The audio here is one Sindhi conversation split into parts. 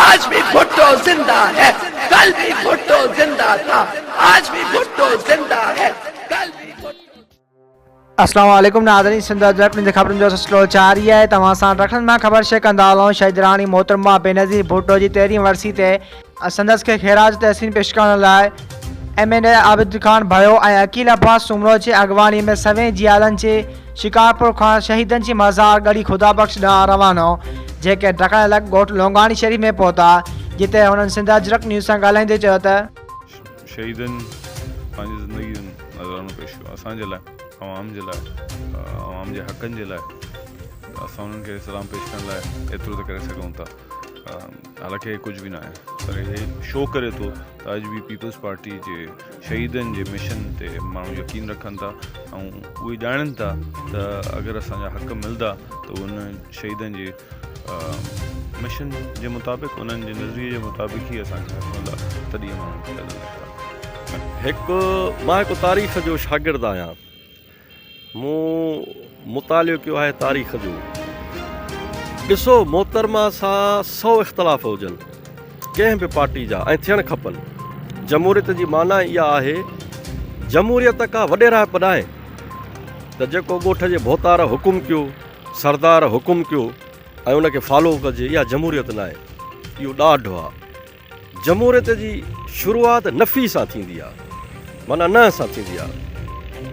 آج ڀي ڀٽو زنده هي ڪل ڀي ڀٽو زنده ٿا آج ڀي ڀٽو زنده هي ڪل ڀي ڀٽو. السلام عليڪم ناظرين سنڌ اجرڪ نيوز جي خبرن جو سلسلو جاري آهي توهان سان رکن مان خبر شيئر ڪندا هلون شهيد راڻي محترمه بينظير ڀٽو جي تيرهين ورسي تي سندس کي خيراج تحسين پيش ڪرڻ لاء M N A Abid Khan ڀريو ۽ عقيل عباس سومرو جي اڳواڻي ۾ سوين جيالن جي شڪارپور کان شهيدن جي مزار ڳڙهي خدا بخش ڏانهن روانو جيڪي ڊکڻ لڳ ڳوٺ لونگاڻي شريف ۾ پهتا جتي هنن سنڌ اجرڪ نيوز سان ڳالهائيندي چيو ته. شهيدن پنهنجي زندگي جو نذرانو پيش ڪيو اسان جي لاء عوام جي لاء عوام جي حقن جي لاء ته اسان انهن کي سلام پيش ڪرڻ لاء ايترو ته ڪري سگهون ٿا. حالانڪ هي ڪجهه به ناهي پر هي شو ڪري ٿو ته اڄ به پيپلز پارٽي جي شهيدن جي مشن تي ماڻهو يقين رکن ٿا ۽ اهي ڄاڻن ٿا ته اگر اسان جا حق ملدا ته ان شهيدن جي مشن جي مطابق انهن جي نظريي جي مطابق ئي اسان کي حق ملدا تڏهن ماڻهو هڪ مان هڪ تاريخ جو شاگرد آهيان مون مطالعو ڪيو آهي تاريخ جو. ڏسو محترمه سان سئو اختلاف هجن ڪنهن به پارٽي جا ۽ ٿيڻ کپن. جمهوريت جي معنيٰ اها آهي جمهوريت ڪا وڏيرائپ ناهي ته جيڪو ڳوٺ جي ڀوتار حڪم ڪيو، سردار حڪم ڪيو ۽ ان کي فالو ڪجي اها جمهوريت ناهي اهو ڏاڍ آهي. جمهوريت جي شروعات نفي سان ٿيندي آ معنيٰ نه سان ٿيندي آ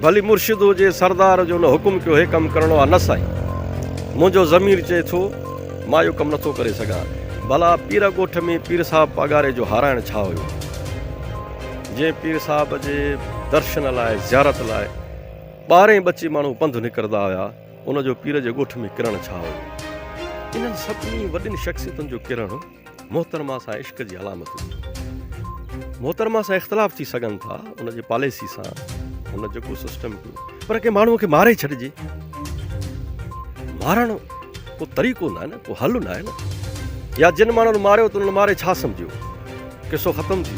ڀلي مرشد هجي سردار جو نه حڪم ڪيو هي ڪم ڪرڻو آ نه سائين منهنجو ضمير چئي ٿو مان اهو ڪم نٿو ڪري سگهان ڀلا پير ڳوٺ ۾ پير صاحب پاڳاري جو هارائڻ ڇا هيو جنهن پير صاحب جي درشن لاء زيارت لاء ٻارهين ٻچي ماڻهو پنڌ نڪردا هيا ان جو پير جي ڳوٺ ۾ ڪرڻ ڇا هيو انهن سڀني وڏين شخصيتن جو ڪرڻ محترمه سان عشق جي علامتون محترمه سان اختلاف ٿي سگهن ٿا ان جي پاليسي سان ان جو ڪو سسٽم ڪيو پر ڪي ماڻهو کي ماري ڇڏجي مارڻ ڪو طريقو نه نه ڪو حل نه نه يا جن ماڻهن ماريو تن ماري ڇا سمجھيو قصو ختم ٿي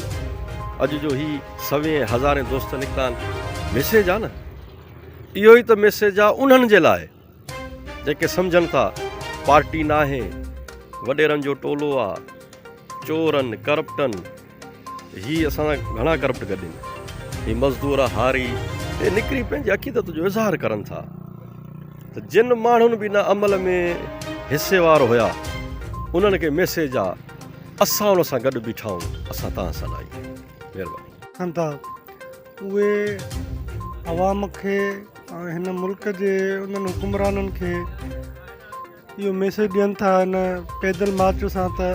اڄ جو هي سوين هزارين دوست نڪتا آهن ميسيج آ نه اهو ئي ته ميسيج آ انهن جي لاء جيڪي سمجهن ٿا پارٽي ناهي وڏيرن جو ٽولو آ چورن ڪرپٽن هي اسان سان گهڻا ڪرپٽ گڏين هي مزدور آ هاري هي نڪري پنهنجي عقيدت جو اظهار ڪرن ٿا ته جن ماڻهن به ان عمل ۾ حصي وار هيا انهن کي ميسيج آ اسان ان سان گڏ بيٺا آهيون اسان تان سان آهيون مهرباني اهي عوام کي ۽ هن ملڪ جي انهن حڪمرانن کي اهو ميسيج ڏين ٿا هن پيدل مارچ سان ته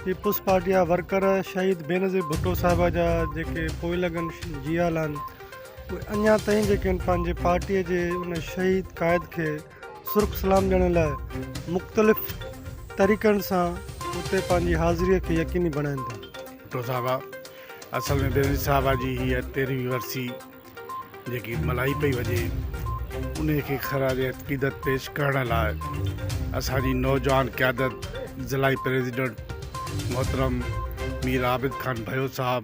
پيپلز پارٽي جا ورڪر شهيد بينظير ڀٽو صاحب جا جيڪي پوئي لڳن جيال آهن اهي اڃا تائين جيڪي آهن پنهنجي پارٽي جي ان شهيد قائد کي سرخ سلام ڏيڻ لاء مختلف طريقن سان اتي پنهنجي حاضري کي يقيني بڻائين ٿا. ڀٽو صاحب اصل ۾ بينظير صاحب جي هيء تيرهوين ورسي جيڪي ملهائي پئي وڃي انهي کي خراج عقيدت پيش ڪرڻ لاء اسان جي نوجوان قيادت ضلعي پريزيڊنٽ محترم مير عابد خان ڀيو صاحب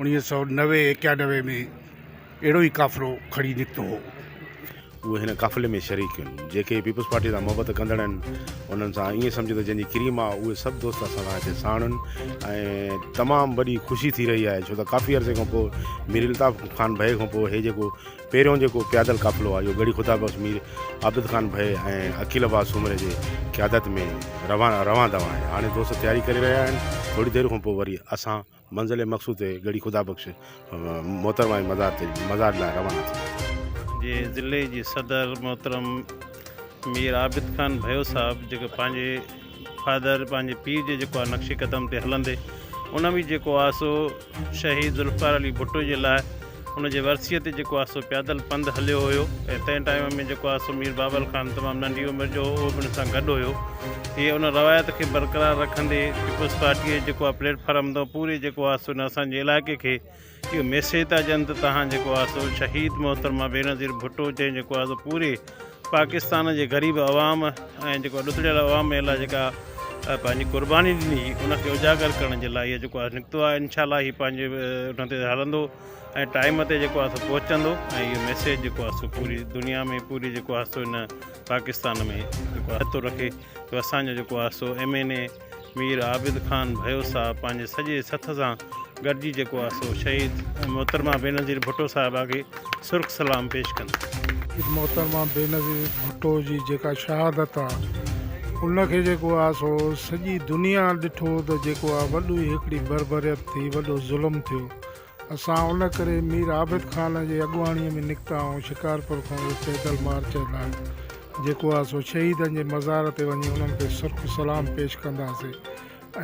انيس سئو نوي ايڪيانوي ۾ اهڙو ئي قافلو کڻي نڪتو هو. اهي هن قافلي ۾ شريڪ هن. جيڪي پيپلز پارٽيء سان محبت ڪندڙ هن، انهن سان ائين سمجهه ته جنهن جي ڪريم آ، اهي سڀ دوست اسان سان هتي ساڻ هن ۽ تمام وڏي خوشي ٿي رهي آهي، ڇو ته ڪافي عرصي کانپوء مير الطاف خان ڀئي کانپوء هي جيڪو پهريون جيڪو پيادل قافلو آ، اهو ڳڙهي خدا بخش مير عابد خان ڀئي ۽ عقيل عباس سومري جي قيادت ۾ روان روان دوان آهي. هاڻي دوست تياري ڪري رهيا هن، ٿوري دير کانپوء وري اسان منزل مقصود تي ڳڙهي خدا بخش محترمه جي مزار تي مزار لاء روانا ٿيا. جي ضلعي جي صدر محترم مير عابد خان ڀيو صاحب جيڪو پنهنجي فادر پنهنجي پيء جي جيڪو آ نقش قدم تي هلندي ان ۾ جيڪو آ سو شهيد ذوالفقار علي ڀٽو جي لاء ان جي ورسيء تي جيڪو آسو پيادل پنڌ هليو هيو ۽ تنهن ٽائيم ۾ جيڪو آسو مير بابل خان تمام ننڍي عمر جو هو اهو به ان سان گڏ هيو. هيء ان روايت کي برقرار رکندي پيپلز پارٽيء جي جيڪو آ پليٽ فارم تان پوري جيڪو آسو ان اسان جي علائقي کي اهو ميسيج ٿا ڏين ته تهان جيڪو آسو شهيد محترمه بينظير ڀٽو جنهن جيڪو آسو پوري پاڪستان جي غريب عوام ۽ جيڪو ڏتڙيل عوام لاء جيڪا پنهنجي قرباني ڏني ان کي اجاگر ڪرڻ جي لاء هي جيڪو آهي نڪتو آهي انشاء الله هي پنهنجي ان تي هلندو ۽ ٽائيم تي جيڪو آهي سو پهچندو ۽ اهو ميسيج جيڪو آهي سو پوري دنيا ۾ پوري جيڪو آهي سو ان پاڪستان ۾ جيڪو آهي ٿو رکي جو اسانجو جيڪو آهي سو M N A Mir Abid Khan Bhayo صاحب پنهنجي سڄي سٿ سان گڏجي جيڪو آهي سو شهيد محترمه بينظير ڀٽو صاحبه کي سرخ سلام پيش ڪن. شهيد محترمه بينظير ڀٽو جي جيڪا شهادت آهي ان کي جيڪو آهي سو سڄي دنيا ڏٺو ته جيڪو آهي وڏو هڪڙي بربريت ٿي وڏو ظلم ٿيو اسان ان ڪري مير عابد خان جي اڳواڻيء ۾ نڪتا ۽ شڪارپور کان اهو پيدل مارچ اعلان جيڪو آهي سو شهيدن جي مزار تي وڃي انهن کي سرخ سلام پيش ڪنداسين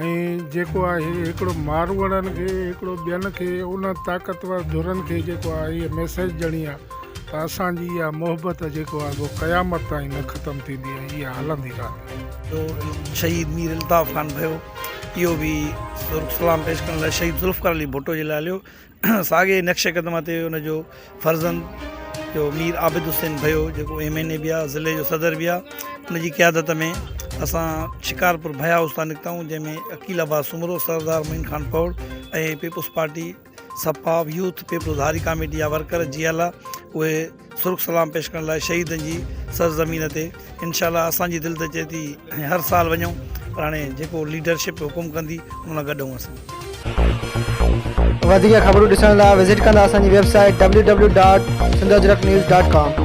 ۽ جيڪو آهي هڪڙو ماروئڙن کي هڪڙو ٻين کي ان طاقتور ڌرن کي جيڪو آهي هيء ميسيج ڏيڻي آهي ته اسان جي اها محبت جيڪو آهي سو قيامت تائين نه ختم ٿيندي ۽ اها هلندي رهندي. جو شهيد مير الطاف خان ڀيو. اهو به سرخ سلام پيش ڪرڻ لاء شهيد ذوالفقار علي ڀٽو جي لاء هليو ساڳي نقش قدم تي ان جو فرزند جو مير عابد حسين ڀيو جيڪو ايم اين اي بي آهي ضلعي جو صدر بي آهي ان جي قيادت ۾ اسان شڪارپور بھيا هاؤس تان نڪتائون جنهن ۾ عقيل عباس سومرو سردار معين خان پوڙ ۽ پيپلز پارٽي سپا، يوٿ پيپلز هاري ڪاميٽي جا ورڪر جي الا اهي سرخ سلام پيش ڪرڻ لاء شهيدن جي سرزمين تي انشاء الله اسان جي دل ته چئي ٿي هر سال وڃون پر هاڻي جيڪو ليڊرشپ حڪم ڪندي ان سان گڏ هون اسان وڌيڪ خبرون ڏسڻ لاء وزٽ ڪندا اسان جي website W W dot Sindh Ajrak news dot ڪام